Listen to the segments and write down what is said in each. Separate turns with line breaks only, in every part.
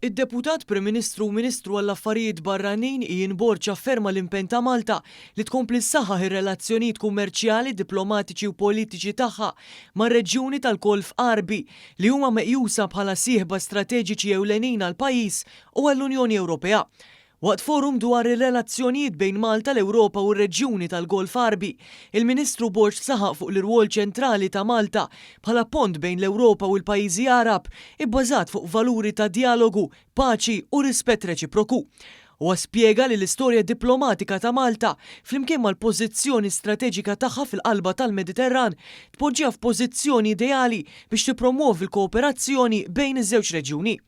Id-Deputat Prim Ministru u Ministru għall-Affarijiet Barranin Ian Borg afferma l-impenn ta' Malta li tkompli ssaħħaħ ir-relazzjonijiet kummerċjali, diplomatiċi u politiċi tagħha mar-reġjuni tal-Golf Għarbi li huma meqjusa bħala sieħba strateġiċi ewlenin għall-pajjiż u għall-Unjoni Ewropea. Waqt forum dwar ir-relazzjonijiet bejn Malta, l-Ewropa u r-reġjuni tal-Golf Għarbi, il-Ministru Borg saħaq fuq l-irwol ċentrali ta' Malta bħala pont bejn l-Ewropa u l-pajjiżi Għarab ibbażat fuq valuri ta' djalogu, paċi u rispett reċiproku. Huwa spjega li l-istorja diplomatika ta' Malta, flimkien mal-pożizzjoni strateġika tagħha fil-qalba tal-Mediterran, tpoġġiha f'pożizzjoni ideali biex tippromwovi l-kooperazzjoni bejn iż-żewġ reġjuni.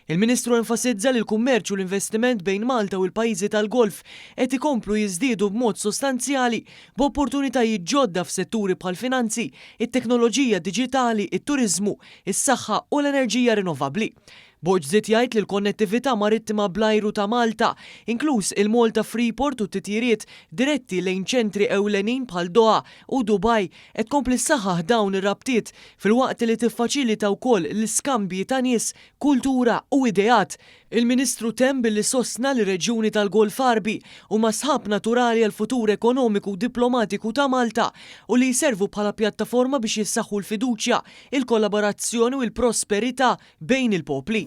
Il-Ministru enfasizza li l-kummerċ u l-investiment bejn Malta u l-pajjiżi tal-Golf qed ikomplu jiżdiedu b'mod sostanzjali, b'opportunitajiet ġodda f'setturi bħall-finanzi, it-teknoloġija diġitali, it-turiżmu, is-saħħa u l-enerġija rinnovabbli. Borg żied jgħid li l-konnettività marittima bl-ajru ta' Malta, inkluż il-Malta Freeport u t-titjiriet diretti lejn ċentri ewlenin bħal Doha u Dubai, qed tkompli ssaħħaħ dawn ir-rabtiet filwaqt li tiffaċilita wkoll l-iskambji ta' nies, kultura u ideat. Il-Ministru temm billi sostna li r-reġjuni tal-Golf Għarbi huma sħab naturali għall-futur ekonomiku u diplomatiku ta' Malta u li jservu bħala pjattaforma biex jissaħħu l-fiduċja, il-kollaborazzjoni u l-prosperità bejn il-popli.